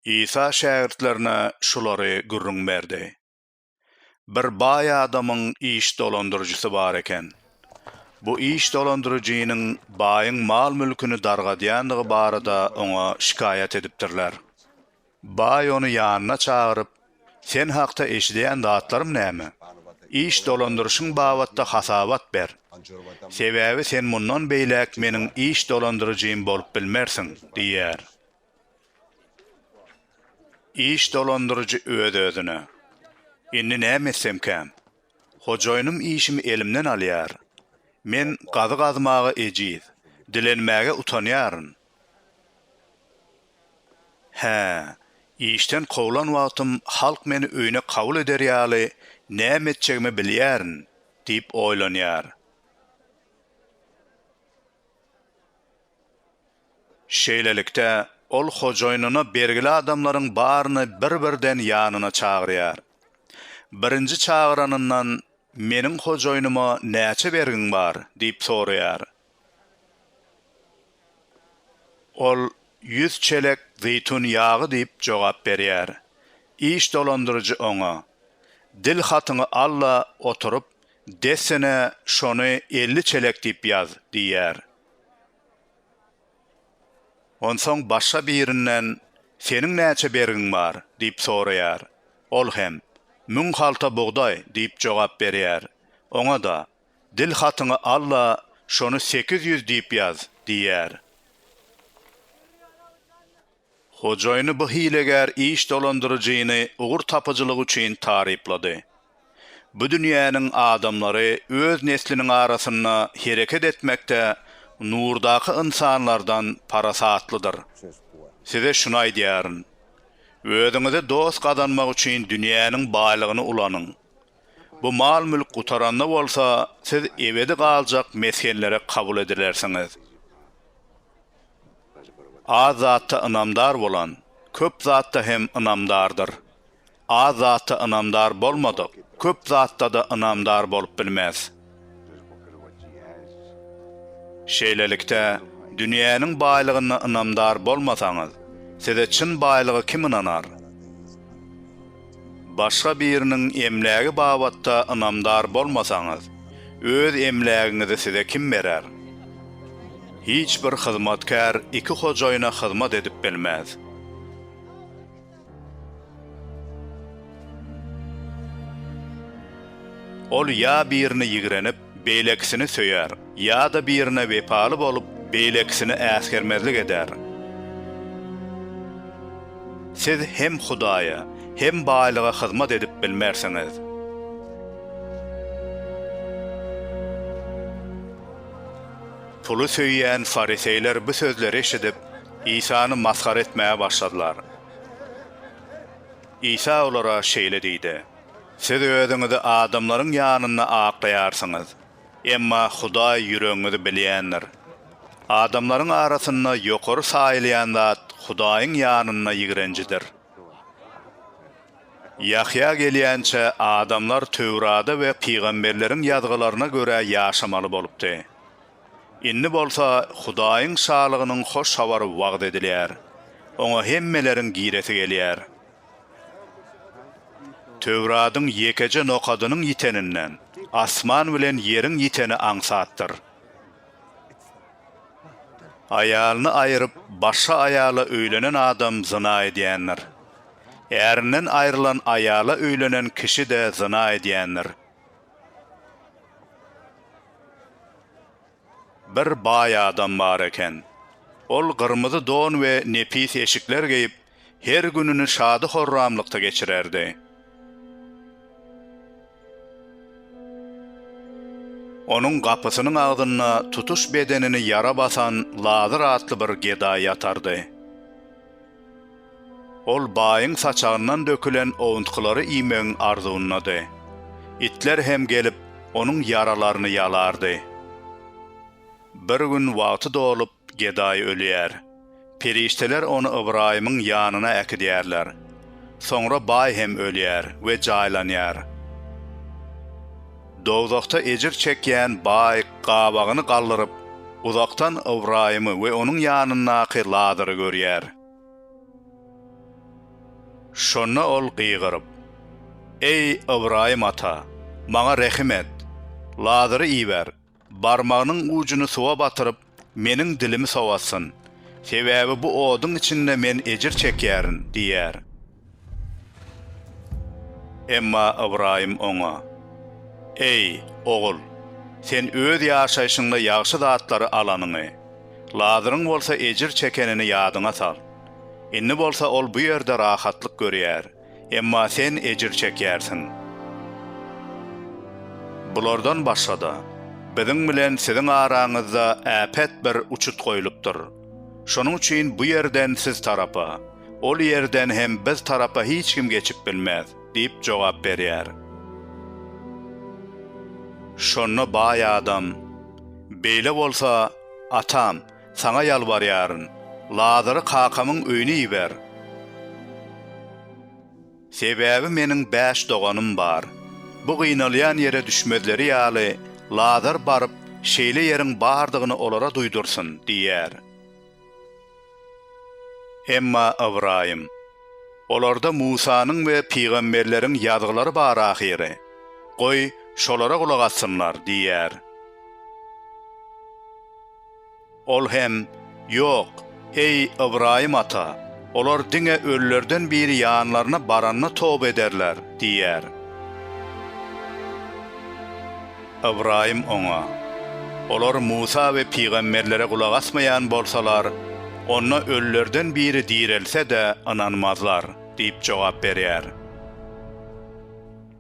Isa şägirtlerine şulary gürrüň berdi, Bir baý adamyň iş dolandyryjysy bar eken. Bu iş dolandyryjynyň baýyň mal-mülküni dargadýandygy barada oňa şikaýat edipdirler. Baý ony ýanyna çagyryp, Sen hakda eşidýän zatlarym näme? Iş dolandyryşyň babatda hasabat ber. Sebäbi sen mundan beýläk meniň iş dolandyryjym bolup bilmersiň, diýýär. Iş dolandyryjy öz-özüne, Indi näme etsemkäm? Hojaýynym işimi elimden alýar. Men gazy gazmaga ejiz, dilenmäge utanýaryn. Hä, işden kowlan wagtym halk meni öýüne kabul eder ýaly näme etjegimi bilýärin, diýip oýlanýar. Şeýlelikde, ol hojaýynyna bergili adamlaryň baryny bir-birden ýanyna çagyrýar. Birinji çagyranyndan, Meniň hojaýynyma näçe bergiň bar? diýip soraýar. Ol ýüz çelek zeýtun ýagy diýip jogap berýär. Iş dolandyryjy oňa, Dil hatyňy al-da oturyp, dessine şony elli çelek diýip ýaz diýýär. Onsoň başga birinden, Seniň näçe bergiň bar? diýip soraýar. Ol hem, Müň halta bugdaý diýip jogap berýär. Oňa-da, Dil hatyňy al-da, şony sekiz ýüz diýip ýaz, diýýär. Hojaýyny bu hilegär iş dolandyryjyny ugur tapyjylygy üçin taryplady. Bu dünýäniň adamlary öz nesliniň arasynda hereket etmekde Nurdaky ynsanlardan parasatlydyr. Size şuny aýdýaryn. Özüňize dost gazanmak üçin dünýäniň baýlygyny ulanyň. Bu mal-mülk gutaranda bolsa, siz ebedi galjak mesgenlere kabul edilersiňiz. Az zatda ynamdar bolan, köp zatda hem ynamdardyr. Az zatda ynamdar bolmadyk, köp zatda-da ynamdar bolup bilmez. Şeýlelikde, dünýäniň baýlygyna ynamdar bolmasaňyz, size çyn baýlygy kim ynanar? Başga biriniň emlägi babatda ynamdar bolmasaňyz, öz emlägiňizi size kim berer? Hiç bir hyzmatkär iki hojaýyna hyzmat edip bilmez. Ol ýa birini ýigrenip, beýlekisini söýer, ýa-da birine wepaly bolup, beýlekisini äsgermezlik eder. Siz hem Hudaýa, hem baýlyga hyzmat edip bilmersiňiz. Puly söýýän fariseýler bu sözleri eşidip, Isany masgara etmäge başladylar. Isa olara şeýle diýdi, Siz özüňizi adamlaryň ýanynda aklaýarsyňyz, emma Hudaý ýüregiňizi bilýändir. Adamlaryň arasynda ýokary saýylýan zat Hudaýyň ýanynda ýigrenjidir. Ýahýa gelýänçä adamlar Töwrada we pygamberleriň ýazgylaryna görä ýaşamaly bolupdy. Indi bolsa Hudaýyň Şalygynyň hoş habary wagyz edilýär. Oňa hemmeleriň giresi gelýär. Töwradyň ýekeje nokadynyň ýiteninden, asman bilen ýeriň ýiteni aňsatdyr. Aýalyny aýryp, başga aýala öýlenen adam zyna edýändir. Ärinden aýrylan aýala öýlenen kişi-de zyna edýändir. Bir baý adam bar eken. Ol gyrmyzy don we nepis eşikler geýip, her gününi şady-horramlykda geçirerdi. Onuň gapysynyň agzynda tutuş bedenini ýara basan Lazyr atly bir gedaý ýatardy. Ol baýyň saçagyndan dökülen owuntgylary iýmegiň arzuwyndady. Itler hem gelip, onuň ýaralaryny ýalardy. Bir gün wagty dolup, gedaý ölýär. Perişdeler ony Ybraýymyň ýanyna äkidýärler. Soňra baý hem ölýär we jaýlanýar. Dowzahda ejir çekýän baý gabagyny galdyryp, uzakdan Ybraýymy we onuň ýanyndaky Lazary görýär. Şonda ol gygyryp, Eý, Ybraýym ata, maňa rehim et! Lazary iber, Barmagynyň ujuny suwa batyryp, meniň dilimi sowatsyn. Sebäbi bu oduň içinde men ejir çekýärin, diýýär. Emma Ybraýym oňa, Eý, ogul, sen öz ýaşaýşyňda ýagşy zatlary alanyňy, Lazaryň bolsa ejir çekenini ýadyňa sal. Indi bolsa ol bu ýerde rahatlyk görýär. Emma sen ejir çekýärsiň. Bulardan başga-da, biziň bilen siziň araňyzda äpet bir uçut goýlupdyr. Şonuň üçin bu ýerden siz tarapa, ol ýerden hem biz tarapa hiç kim geçip bilmez diýip jogap berýär. Şonda baý adam, Beýle bolsa, atam, Saňa ýalbarýaryn, Lazary kakamyň öýüne iber. Sebäbi meniň bäş doganym bar. Bu gynalýan ýere düşmezleri ýaly, Lazar baryp, şeýle ýeriň bardygyny olara duýdursyn, diýýär. Emma Ybraýym, Olarda Musanyň we pygamberleriň ýazgylary bar ahyry. Goý, şolara gulak assynlar, diýýär. Ol hem, Ýok, eý, Ybraýym ata, olar diňe ölülerden biri ýanlaryna baranda toba ederler diýýär. Ybraýym oňa, Olar Musa we pygamberlere gulak asmaýan bolsalar, onda ölülerden biri direlse-de ynanmazlar diýip jogap berýär.